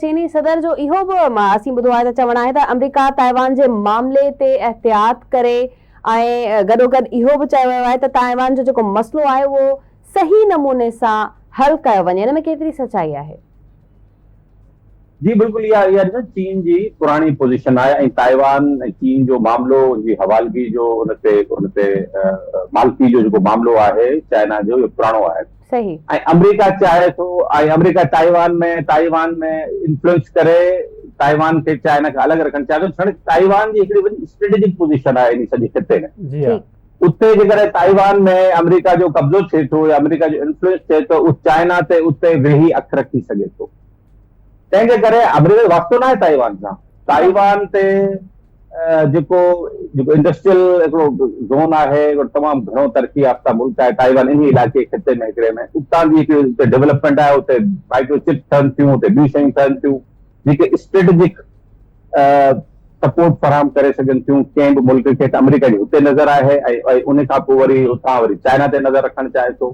چيني صدر جو اهو به اسين ٻڌو آهي ته چوڻ آهي ته آمريڪا تائيوان جي معاملي تي احتياط ڪري ۽ گڏوگڏ اهو به چيو ويو آهي ته تائيوان جو جيڪو مسئلو آهي اهو صحيح نموني سان حل ڪيو وڃي ان ۾ ڪيتري سچائي آهي؟ جي بلڪل اها اها ڏسو چين جي پراڻي پوزيشن آهي ۽ تائيوان ۽ چين جو معاملو ان جي حوالگي جو ان تي ان تي مالڪي جو جيڪو معاملو آهي چائنا جو اهو پراڻو آهي. صحيح. ۽ آمريڪا چاهي ٿو ۽ آمريڪا تائيوان ۾ تائيوان ۾ انفلوئنس ڪري تائيوان کي چائنا کان الڳ رکڻ چاهي ٿو ڇڙ تائيوان جي هڪڙي وڏي اسٽريٽجڪ پوزيشن آهي انهي سڄي خطي ۾ جي ها. اتي جيڪڏهن تائيوان ۾ آمريڪا جو قبضو ٿئي ٿو يا آمريڪا جو انفلوئنس ٿئي ٿو اهو چائنا تي اتي ويهي اک رکي سگهي ٿو. تنهن جي ڪري آمريڪا جو واسطو ناهي تائيوان سان تائيوان تي جيڪو جيڪو انڊسٽريل هڪڙو زون آهي تمام گهڻو ترقي يافته ملڪ آهي تائيوان ان علاقي خطي ۾ هڪڙي ۾ اتان جي هڪڙي اتي ڊيولپمنٽ آهي اتي مائڪرو چپس ٺهن ٿيون اتي ٻيون شيون ٺهن ٿيون جيڪي اسٽريٽجڪ سپورٽ فراهم ڪري سگهن ٿيون ڪنهن به ملڪ کي ته آمريڪا جي هتي نظر آهي ۽ ان کان پوء وري اتان وري چائنا تي نظر رکڻ چاهي ٿو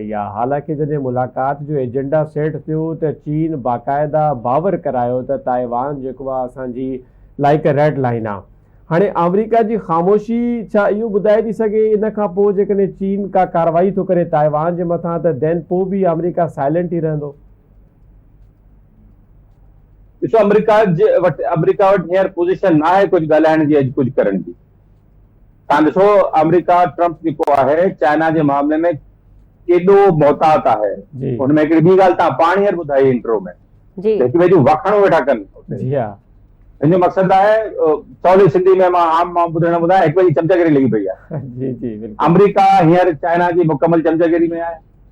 ڪئي آهي، حالانڪ جڏهن ملاقات جو ايجنڊا سيٽ ٿيو ته چين باقاعده باور ڪرايو ته تائيوان جيڪو آهي اسان جي لاء هڪ ريڊ لائين آهي. هاڻي آمريڪا جي خاموشي ڇا اهو ٻڌائي ٿي سگهي ان کان پوء جيڪڏهن چين ڪا ڪارروائي ٿو ڪري تائيوان جي مٿان ته دين پوء به آمريڪا سائلنٽ ئي رهندو؟ ڏسو آمريڪا جي وٽ آمريڪا وٽ هينئر پوزيشن ناهي ڪجهه ڳالهائڻ جي ۽ ڪجهه ڪرڻ جي. توهان ڏسو آمريڪا ٽرمپ جيڪو آهي چائنا جي معاملي ۾ ڪيڏو محتاط آهي ان ۾ هڪڙي ٻي ڳالهه توهان پاڻ هينئر ٻڌائي انٽرو ۾ هڪ ٻئي جون واکاڻون ويٺا ڪن ان جو مقصد آهي سولي سنڌي ۾ مان عام ماڻهو ٻڌڻ لاء ٻڌايان هڪ ٻئي جي چمچاگيري لڳي پئي آهي آمريڪا هينئر چائنا جي مڪمل چمچاگيري ۾ آهي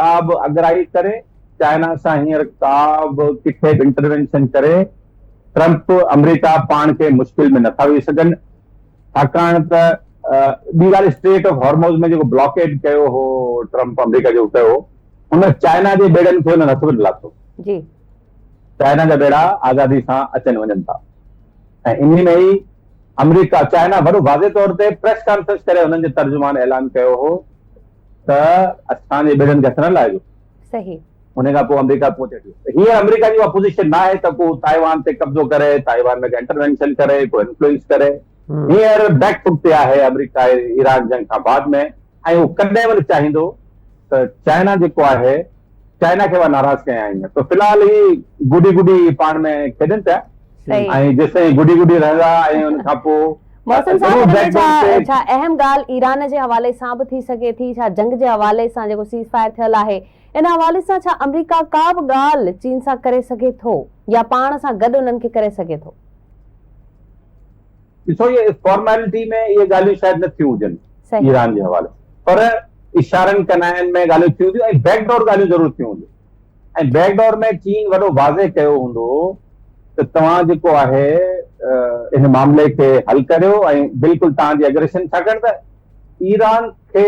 ڪا به اڳرائي ڪري، چائنا سان هينئر ڪا به ڪٿي به انٽروينشن ڪري، ٽرمپ، آمريڪا پاڻ کي مشڪل ۾ نٿا وجهي سگهن، ڇاڪاڻ ته ٻي ڳالهه اسٽريٽ آف هارموز ۾ جيڪو بلاڪيڊ ڪيو هو ٽرمپ آمريڪا جو ڪيو هو، ان چائنا جي ٻيڙن کي هن هٿ به نه لاٿو. جي. چائنا جا ٻيڙا آزادي سان اچن وڃن ٿا ۽ انهي ۾ ئي آمريڪا، چائنا وڏو واضح طور تي پريس ڪانفرنس ڪري هنن جي ترجمان اعلان ڪيو هو ته اسان جي ٻيڙن کي هٿ نه لائجو. صحيح. ان کان پوء آمريڪا پهچي ٿي. هينئر آمريڪا جي اها پوزيشن نه آهي ته ڪو تائيوان تي قبضو ڪري، تائيوان ۾ ڪا انٽروينشن ڪري، ڪو انفلوئنس ڪري. هينئر بيڪ فوٽ تي آهي آمريڪا ايران جنگ کان بعد ۾ ۽ اهو ڪڏهن به نه چاهيندو ته چائنا جيڪو آهي، چائنا کي اها ناراض ڪيائين ته في الحال هي گڏي گڏي پاڻ ۾ کيڏن پيا ۽ جيستائين گڏي گڏي رهندا ۽ ان کان پوء محسن صاحب هن ۾ ڇا اهم ڳالهه ايران جي حوالي سان به ٿي سگهي ٿي ڇا جنگ جي حوالي سان جيڪو سيز فائر ٿيل آهي ان حوالي سان ڇا آمريڪا ڪا به ڳالهه چين سان ڪري سگهي ٿو يا پاڻ سان گڏ انهن کي ڪري سگهي ٿو؟ ڏسو اهي فارميلٽي ۾ اهي ڳالهيون شايد نه ٿيون هجن ايران جي حوالي پر اشارن ڪنائن ۾ ڳالهيون ٿيون هونديون ۽ بيڪ ڊور ڳالهيون ضرور ٿيون هونديون ۽ بيڪ ڊور ۾ چين وڏو واضح ڪيو هوندو ته توهان جيڪو آهي ان معاملي کي حل ڪريو ۽ بلڪل توهان جي اگريشن ڇاڪاڻ ته ايران کي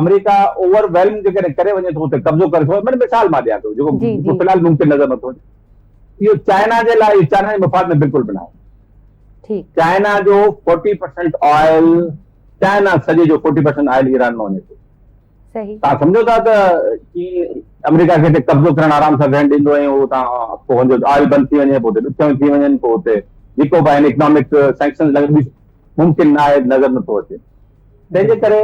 آمريڪا اوور ويلم جيڪڏهن ڪري وڃي ٿو اتي قبضو ڪري ٿو مطلب مثال مان ڏيان ٿو جيڪو في الحال ممڪن نظر نٿو اچي اهو چائنا جي لاء چائنا جي مفاد ۾ بلڪل به نه آهي ٺيڪ. چائنا جو فورٽي پرسنٽ آئل چائنا سڄي جو فورٽي پرسنٽ آئل ايران مان وڃي ٿو. صحيح. تان سمجهو ٿا ته چين آمريڪا کي اتي قبضو ڪرڻ آرام سان ويهڻ ڏيندو ۽ هو تان پوء هن جو آئل بند ٿي وڃي پوء اتي ڏکيائون ٿي وڃن پوء اتي جيڪو به آهن اڪنامڪ سينڪشنز لڳن ممڪن نه آهي نظر نٿو اچي. تنهن جي ڪري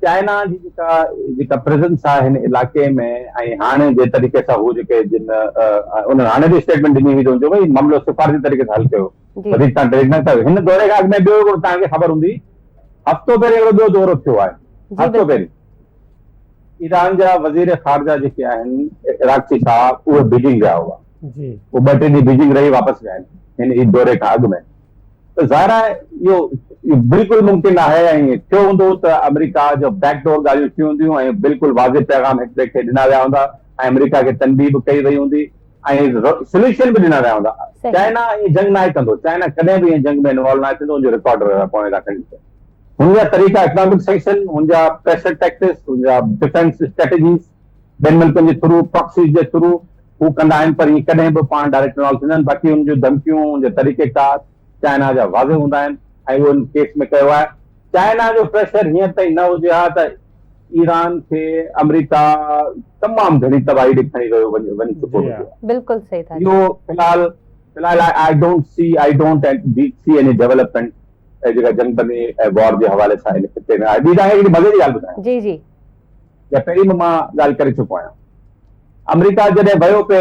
چائنا جي جيڪا جيڪا پريزنس آهي هن علاقي ۾ ۽ هاڻي جي طريقي سان هو جيڪي جن انهن هاڻي به اسٽيٽمنٽ ڏني هئي جو ڀائی معاملو سفارتي طريقي سان حل ڪيو وڌيڪ تان ٽريڊ نه ڪيو هن دوري کان اڳ ۾ ٻيو هڪڙو تان کي خبر هوندي هفتو پهرين هڪڙو ٻيو دورو ٿيو آهي هفتو پهرين ايران جا وزير خارجه جيڪي آهن عراقي صاحب اهي بيجنگ ويا هئا جي ٻه ٽي ڏينهن بيجنگ رهي واپس ويا آهن هن دوري کان اڳ ۾ ته ظاهر آهي اهو بلڪل ممڪن ناهي ۽ ٿيو هوندو ته آمريڪا جو بيڪ ڊور ڳالهيون ٿيون هونديون ۽ بلڪل واضح پيغام هڪ ٻئي کي ڏنا ويا هوندا ۽ آمريڪا کي تنبيهه به ڪئي وئي هوندي ۽ سليوشن به ڏنا ويا هوندا چائنا ائين جنگ ناهي ڪندو چائنا ڪڏهن به ائين جنگ ۾ انوالو ناهي ٿيندو ان جو رڪارڊ پوڻي لاء کڻي ڏسو هن جا طريقا اڪنامڪ سينڪشن هن جا پريشر ٽيڪسز هن جا ڊفينس اسٽريٽجيز ٻين ملڪن جي ٿرو، پراڪسيز جي ٿرو هو ڪندا آهن پر ائين ڪڏهن به پاڻ ڊائريڪٽ انوالو ٿيندا آهن باقي هن جون ڌمڪيون هن جا طريقيڪار چائنا جا واضح هوندا آهن ۽ اهو هن ڪيس ۾ ڪيو آهي. چائنا جو پريشر هينئر تائين نه هجي ها ته ايران کي آمريڪا تمام گهڻي تباهي ڏي کڻي ويو وڃي وڃي چڪو هجي ها. بلڪل صحيح ٿا چئو. اهو في الحال في الحال I I don't see I don't and the see any development جيڪا جنگ بندي ۽ وار جي حوالي سان هن خطي ۾ آهي. ٻي تان کي هڪڙي مزي جي ڳالهه ٻڌايان. جي جي. جا پهرين به مان ڳالهه ڪري چڪو آهيان آمريڪا جڏهن ويو پي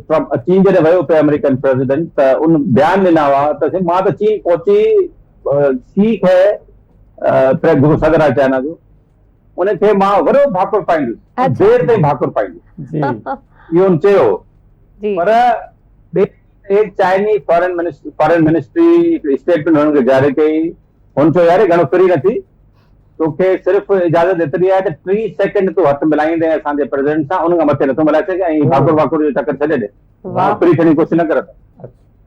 ٽرمپ چين جڏهن ويو پي آمريڪن پريزيڊنٽ ته ان بيان ڏنا هئا ته مان ته چين پهچي شي کي پريس جيڪو صدر آهي چائنا جو ان کي مان وڏو ڀاڪر پائيندس دير تائين ڀاڪر پائيندس اهو ان چيو پر Chinese foreign ministry foreign ministry statement هن کي جاري ڪئي هن چيو يار گهڻو فري نه ٿي تو کي صرف اجازت ايتري آهي ته ٽي سيڪنڊ تون هٿ ملائيندين اسان جي پريزيڊنٽ سان ان کان مٿي نٿو ملائي سگهين ۽ ڀاڪر واڪر جو چڪر ڇڏي ڏي ڦري ڇڻي ڪوشش نه ڪر ته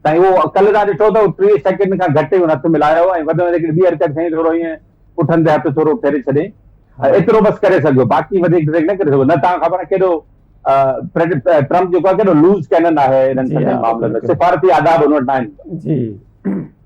سائين اهو ڪل تان ڏٺو اٿئو ٽي سيڪنڊ کان گهٽ هن هٿ ملايو ۽ وڌ ۾ وڌيڪ ٻي حرڪت سائين ٿورو ائين پٺن تي هٿ ٿورو ڦيري ڇڏين ايترو بس ڪري سگهيو باقي وڌيڪ ڊريگ نه ڪري سگهو نه تان خبر آهي ڪيڏو ٽرمپ جيڪو آهي ڪيڏو لوز ڪينن آهي انهن سڀني معاملن ۾ سفارتي آداب هن وٽ ناهن جي